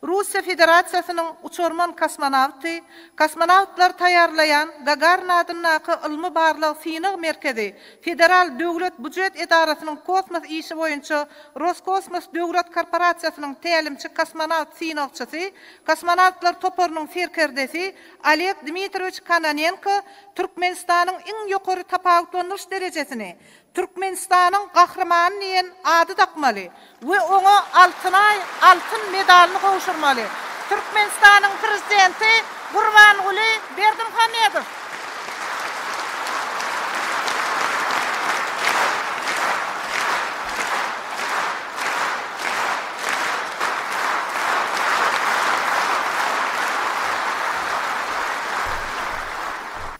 Russiýa Federasiýasynyň uçarman kosmonawty, kosmonawtlary taýýarlaýan Gagarin adyndaky ylmy-barlag synag merkezi Federal döwlet bujet edarasynyň kosmos işi boýunça Roskosmos döwlet korporasiýasynyň tälimçi kosmonawt synagçysy, kosmonawtlar toparynyň serkerdesi Oleg Dmitrowiç Kononenko Türkmenistanyň iň ýokary tapawutlandyryş derejesini, Türkmenistanyň Gahrymany diýen ady dakmaly we oňa Altynaý altyn medalyny gowşurmaly. Türkmenistanyň Prezidenti Gurbanguly Berdimuhamedow